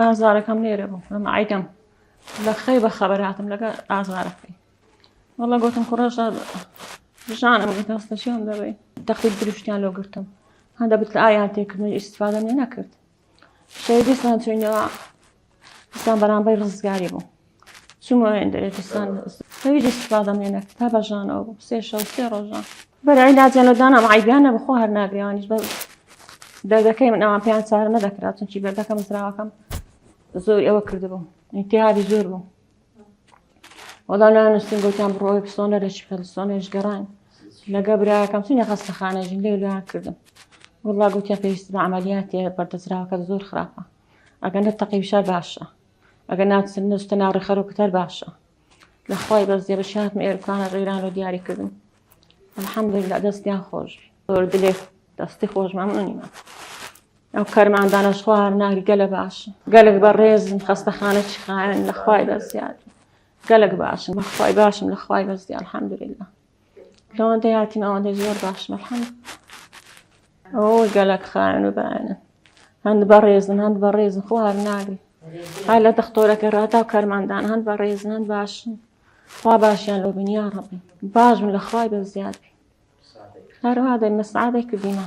ئازارەکەم لێرە بوو ئەمە ئایدەم لە خەی بە خەبەر هاتم لەگە ئازارەکەی وەڵە گوتم کوڕەش ژانم دەستەشیان دەبێ تەختی دروشتیان لۆ گرتم هەندە بت لە ئایان تێکردنی ئیسفادە نێ نەکرد شەیدیسان چوینەوە ئسان بەرامبەی ڕزگاری بوو چوومە وێندەرێ دوستان هەوی دەستفادەم لێ نەکرد تا بەژانەوە بوو سێ شەو سێ ڕۆژان بەرای ناجانەدانم عیبیانە بخۆ هەر ناگرێوانیش بە دەردەکەی من ئەوان پێیان چارە نەدەکرا چونکی بەردەکەم زراوەکەم زۆر ئەوە کردبوو ئینتیابی زۆر بوو وەڵا نانووسین گوتیان بڕۆی پسۆنەرێکی پەلسۆنێش گەڕان لەگە براکەم چینە خەستەخانەژین لێ لێیان کردم وڵا گوتیان پێویست بە عملیاتێ بەردەزراوەکە زۆر خراپە ئەگەنە تەقی بشار باشە ئەگەر ناچن نوستە ناو ڕێخەرۆکت هەر باشە لە خۆی بەس دێ بەشاتم ئێرکانە ڕێران و دیاری کردم الحمدلله دەستیان خۆش زۆر دلێ دەستی خۆش مەمنونیمە ئەو کەرماندانە خوار ناری گەلە باش گەلک بە ڕێزم خەستەخانە چخایەن لە خوای بەزیاد گەلک باشم بەخوای باشم لە خوای بەزی الحمدلله لەوەندەی هاتین ئەوەندەی زۆر باشن الحمد ئەوە گەلەک خاوێن و بەیانە هەند بەڕێزن هەند بەڕێزن خۆ هەر ناگری هەر لە دەختۆرەکە ڕاتا و کەرماندان هەند بەڕێزن هەند باشن خوا باشیان لۆ بنیا ڕەبی باش من لە خوای بە زیاد بی هەروها دەی مەسعادێک کردینە